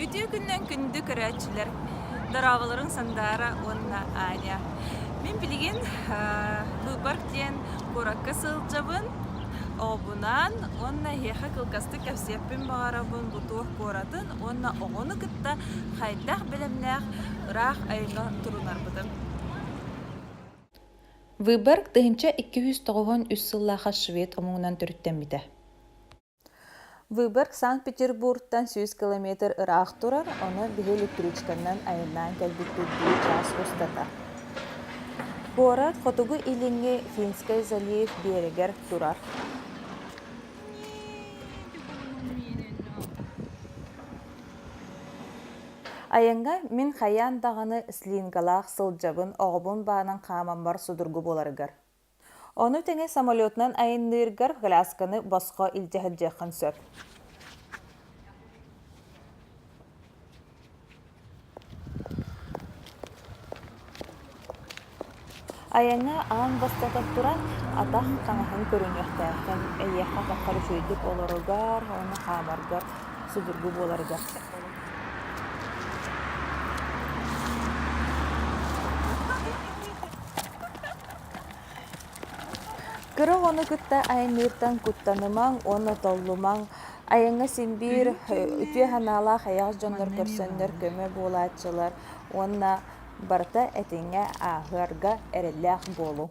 Үтүө күннэн күндү көрөөччүлэр дорооболоруҥ Сандаара уонна Аня. Мин билигин Быыбарк диэн куоракка сылдьабын. Оҕобунаан уонна эһиэхэ кылгастык кэпсиэппин баҕарабын бу туох куоратын уонна оҕону кытта хайдах бэлэмнээх ыраах айыҥҥа турунарбытын. Выборг тыһыынча икки сүүс тоҕуһун үс сыллаах швед омугунан төрүттэммитэ. Выборг Санкт-Петербургтан сүүс километр ыраах турар, ону биһи электричканан айаннаан кэлбиппит дии чаас устата. Куорат хотугу-илиҥҥи Финскэй залив биэрэгэр турар. Айаҥҥа мин хайаан даҕаны слингалаах сылдьабын оҕобун баанан хаамаммар судургу буоларыгар. Ону тэҥэ самолетунан айанныыргар кылаасканы босхо илдьэ сылдьыаххын сөп. Айаҥҥа аан бастатан туран, атах таҥаһын көрүнүөхтээххин. Эйиэхэ атаххар үчүгэйдик олоругар уонна хаамаргар судургу буоларыгар сөп. Кырык ону кытта айанныыртан куттанымаҥ уонна толлумаҥ. Айаҥҥа син-биир үтүө санаалаах эйэҕэс дьоннор көрсөннөр көмө буолааччылар уонна барыта этиҥҥэ ааһыарга эрэллээх буолуҥ.